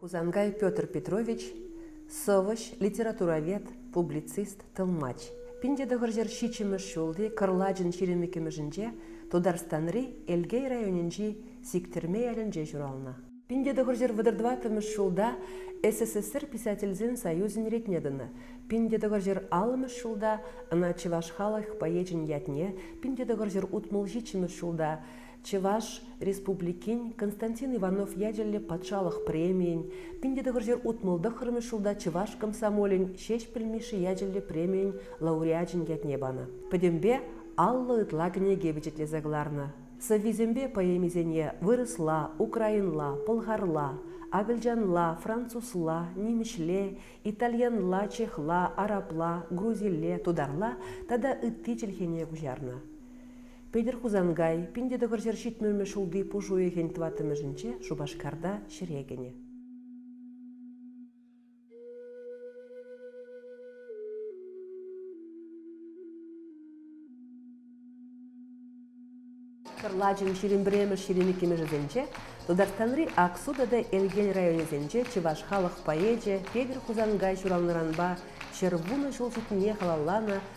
Хусанкай Петр Петрович, сӑвӑҫ, литературовед, публицист, тӑлмач. Пин тӑхӑрҫӗр ҫиччӗмӗш ҫулти кӑрлачӑн ҫирӗмӗ кӗмӗшӗнче Тутарстанри Элкей районӗнчи Сиктӗрме ялӗнче ҫуралнӑ. Пин тӑхӑрҫӗр вӑтӑр-тӑваттӑмӗш ҫулта СССР Писательсен союзӗн ретне тӑнӑ, пин тӑхӑрҫӗр аллӑмӗш ҫулта ӑна чӑваш халӑх поэчӗн ятне, пин тӑхӑрҫӗр утмӑл ҫиччӗмӗш ҫулта Чӑваш Республикин Константин Иванов ячӗллӗ патшалӑх премийӗн, пин те тӑхӑрҫӗр утмӑл тӑххӑрмӗш ҫулта Чӑваш комсомолӗн Ҫеҫпӗл Мишши ячӗллӗ премийӗн лауреачӗн ятне панӑ. Пӗтӗмпе аллӑ ытла кӗнеке пичетлесе кӑларнӑ. Сӑввисемпе поэмисене вырӑсла, украинла, пӑлхарла, акӑлчанла, французла, нимӗҫле, итальянла, чехла, арабла, грузилле, тутарла тата ытти чӗлхене куҫарнӑ. Петӗр Хусанкай пин те тӑхӑр ҫӗр ҫитмӗлмӗш ҫулти пуш уйӑхӗн тӑваттӑмӗшӗнче Шупашкарта ҫӗре кӗнӗ. Кӑрлачӑн ҫирӗм пӗрремӗш ҫирӗм иккӗмӗшӗсенче Тутарстанри Аксу тата Элтен районӗсенче чӑваш халӑх поэчӗ Петӗр Хусанкай ҫуралнӑранпа ҫӗр вунӑ ҫул ҫитнине халалланӑ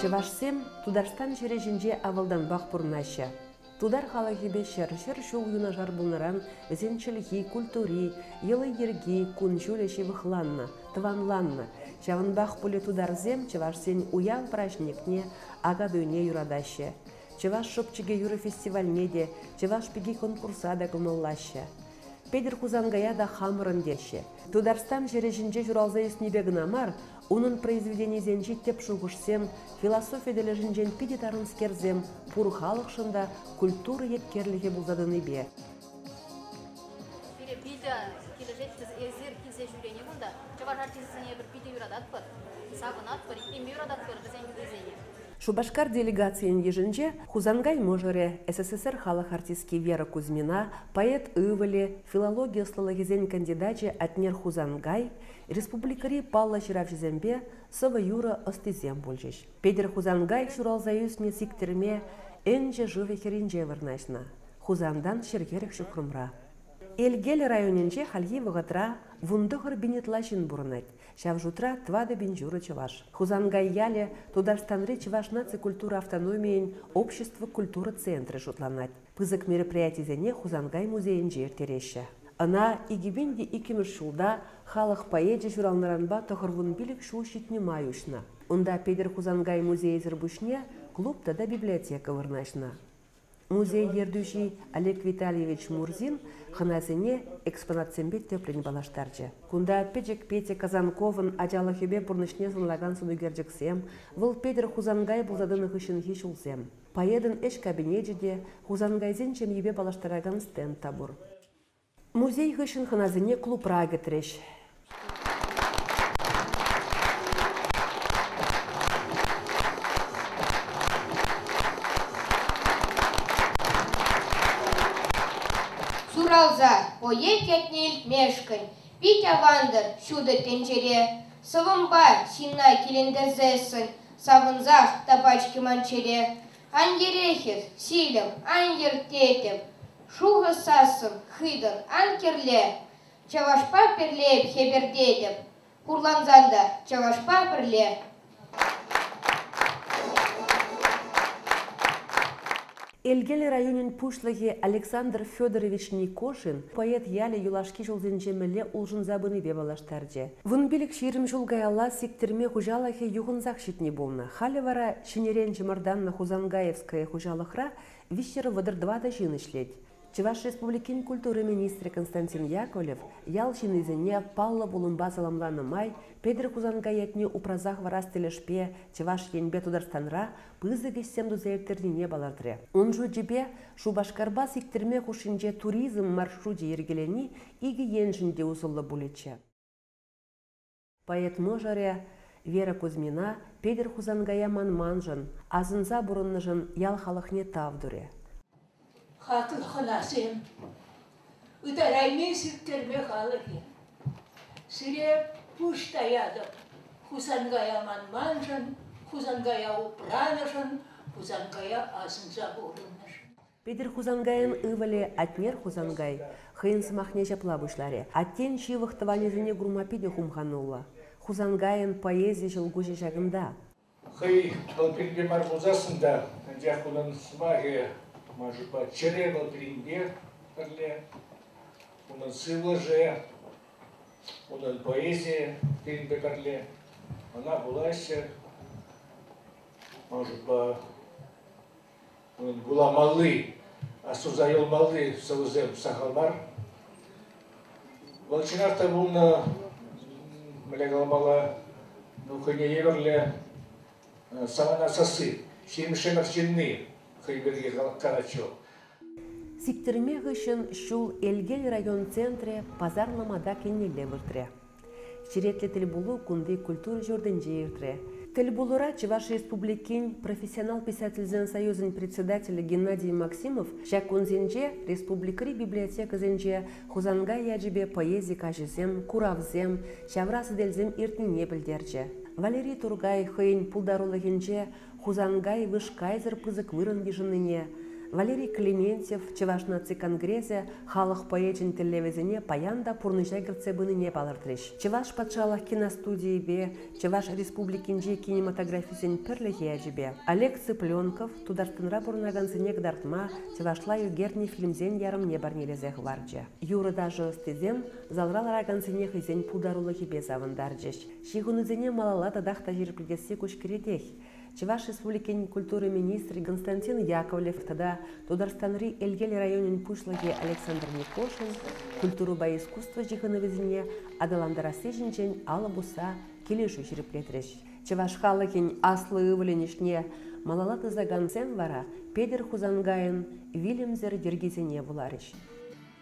Чӑвашсем Тутарстан ҫӗрӗ ҫинче авалтанпах пурӑнаҫҫӗ. Тутар халӑхӗпе ҫӗр, ҫӗр ҫул юнашар пулнӑран вӗсен чӗлхи, культури, йӑли-йӗрки, кун-ҫулӗ ҫывӑхланнӑ, тӑванланнӑ. Ҫавӑнпах пулӗ тутарсем чӑвашсен уяв праҫникне, Акатуйне юратаҫҫӗ. Чӑваш шӑпчӑкӗ юрӑ фестивальне те, Чӑваш пики конкурса та кӑмӑллаҫҫӗ. Петӗр Хусанкая та хамӑрӑн теҫҫӗ. Тутарстан ҫӗрӗ ҫинче ҫуралса ӳснипе кӑна мар, унӑн произведенийӗсенчи тӗп шухӑшсем, философи тӗлӗшӗнчен питӗ тарӑнскерсем пур халӑхшӑн та культура еткерлӗхӗ пулса тӑнипе. Пире питӗ килӗшетчӗ эсир килсе ҫӳрени кунта. Чӑваш артисчӗсене эпир питӗ юрататпӑр, савӑнатпӑр, иккенне юрататпӑр вӗсен юррисене. Шупашкар делегацийӗн йышӗнче Хусанкай мӑшӑрӗ, СССР халӑх артистки Вера Кузьмина, поэт ывӑлӗ, филологи ӑслӑлӑхӗсен кандидачӗ Атнер Хусанкай, республикӑри паллӑ ҫыравҫӑсемпе сӑвӑ-юрӑ ӑстисем пулчӗҫ. Петӗр Хусанкай ҫуралса ӳснӗ Сиктӗрме Энчӗ шывӗ хӗрринче вырнаҫнӑ, Хусантан ҫӗр-хӗрӗх ҫухрӑмра. Элкел районӗнче хальхи вӑхӑтра вун тӑхӑр бенетла ҫын пурӑнать. ҫав шутра тӑватӑ пин ҫурӑ чӑваш. Хусанкай ялӗ Тутарстанри чӑваш наци культура автономийӗн общество культура центрӗ шутланать. Пысӑк мероприятисене Хусанкай музейӗнче ирттереҫҫӗ. Ӑна икӗпин те иккӗмӗш ҫулта халӑх поэчӗ ҫуралнӑранпа тӑхӑр вун пилӗк ҫул ҫитнӗ май уҫнӑ. Унта Петӗр Хусанкай музейӗсӗр пуҫне клуб тата библиотека вырнаҫнӑ. Музей ертӳҫи Олег Витальевич Мурзин хӑнасене экспонатсемпе тӗплӗн паллаштарчӗ. Кунта пӗчӗк Петя Казанковӑн ачалӑхӗпе пурнӑҫне сӑнлакан сӑнӳкерчӗксем, вӑл Петӗр Хусанкай пулса тӑнӑ хыҫҫӑнхи ҫулсем, поэтӑн ӗҫ кабинечӗ те, Хусанкайсен ҫемйипе паллаштаракан стенд та пур. Музей хыҫҫӑн хӑнасене клубра кӗтрӗҫ. Ҫуралса поэт ятне илтмешкӗн пит авантӑр ҫутӑ тӗнчере. Сӑвӑмпа ҫынна килентерсессӗн савӑнсах та пач хӗман чӗре. Ан йӗрехӗр, ҫилӗм, ан йӗр тетӗп. Шухӑ сассӑн хытӑр ан кӗрле. Чӑвашпа пӗрле эп хӗпӗртетӗп. Хурлансан та чӑвашпа пӗрле. Элкел районӗн пуҫлӑхӗ Александр Федорович Никошин поэт ялӗ юлашки ҫулсенче мӗнле улшӑнса пынипе паллаштарчӗ. Вун пилӗк-ҫирӗм ҫул каялла Сиктирме хуҫалӑхӗ юхӑнсах ҫитни пулнӑ, халӗ вара Ҫӗнӗрен чӑмӑртаннӑ Хусанкаевское хуҫалӑхра виҫҫӗр вӑтӑр тӑватӑ ҫын ӗҫлет. Чӑваш Республикин культура министрӗ Константин Яковлев ял ҫыннисене паллӑ пулӑмпа саламланӑ май Петӗр Хусанкай ятне упраса хӑварас тӗлӗшпе Чӑваш Енпе Тутарстанра пысӑк ӗҫсем туса ирттернине палӑртрӗ. Ун шучӗпе, Шупашкарпа сиктӗрме хушшинче туризм маршручӗ йӗркелени икӗ еншӗн те усӑллӑ пулӗччӗ. Поэт мӑшӑрӗ Вера Кузьмина Петӗр Хусанкая манманшӑн, асӑнса пурӑннӑшӑн ял халӑхне тав турӗ. Хатын-хӑнасем, ытарайми сирттерме халӑхӗ. Сире пуҫ таятӑп, Хусанкая манманшӑн, Хусанкая упранӑшӑн, Хусанкая асӑнса пурӑннӑшӑн. Петӗр Хусанкайӑн ывӑлӗ Атнер Хусанкай хӑйӗн сӑмахне ҫапла пуҫларӗ, Аттен ҫывӑх тӑванӗсене курма питӗ хумхануллӑ. Хусанкайӑн поэзи ҫӑлкуҫӗ ҫакӑнта. Хӑй вӑл пирки мар пулсассӑн та, анчах унӑн сӑмахӗ тӑма шутпа чӗре вӑл пирӗнпех пӗрле. Унӑн сывлӑшӗ, унӑн поэзийӗ пирӗнпе пӗрле. Ӑна вулаҫҫӗ. Ман шутпа, вуламалли, суса юлмалли сӑвӑсем сахал мар. Вӑл чӑнах та пулнӑ, мӗне каламалла, ну хӑйне евӗрлӗ самана сасси, ҫимӗҫӗн арҫынни хӑй пирки калатчӗ Сиктӗрме хыҫҫӑн ҫул Элкел район центрӗ пасар-ломата кӗнилле выртрӗ. Черетлӗ тӗлпулу кунти культура ҫуртӗнче иртрӗ. Тӗлпулура Чӑваш Республикин Профессионал писательсен союзӗн председателӗ Геннадий Максимов ҫак кунсенче республикӑри библиотекӑсенче Хусанкай ячӗпе поэзи каҫӗсем, куравсем, ҫавра сӗтелсем иртнине пӗлтерчӗ. Валерий Тургай хӑйӗн пултарулӑхӗнче Хусанкай вышкайсӑр пысӑк вырӑн йышӑннине, Валерий Клементьев Чӑваш наци конгресӗ халӑх поэчӗн тӗллевӗсене паян та пурнӑҫа кӗртсе пынине палӑртрӗҫ. Чӑваш патшалӑх киностудийӗпе Чӑваш Республикинчи кинематографисен пӗрлӗхӗ ячӗпе Олег Цыпленков Тутарстанра пурӑнакансене кӑтартма чӑвашла ӳкернӗ фильмсен ярӑмне парнелесе хӑварчӗ. Юрӑ-ташӑ ӑстисем залра ларакансене хӑйсен пултарулӑхӗпе савӑнтарчӗҫ. Ҫыхӑнусене малалла татах та ҫирӗплетесси куҫ кӗретех. Чӑваш Республикин культура министрӗ Константин Яковлев тата Тутарстанри Элкел районӗн пуҫлӑхӗ Александр Никошин культурӑпа искусство ҫыхӑнӑвӗсене аталантарасси ҫинчен алӑ пусса килӗшӳ ҫирӗплетрӗҫ. Чӑваш халӑхӗн аслӑ ывӑлӗн ӗҫне малалла тӑсакансем вара Петӗр Хусанкайӑн вилӗмсӗр йӗркисене вуларӗҫ.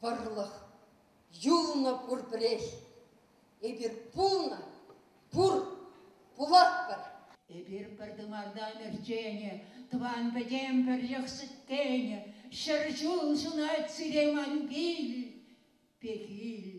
вӑрлӑх, юлнӑ пурпӗрех. Эпир пулнӑ, пур, пулатпӑр. Эпир пӗр тымарта ӗмӗртенӗ, тӑван-пӗтем пӗрлӗх сӗтленӗ, ҫӗр ҫул ҫунать сире ман кил, пехил.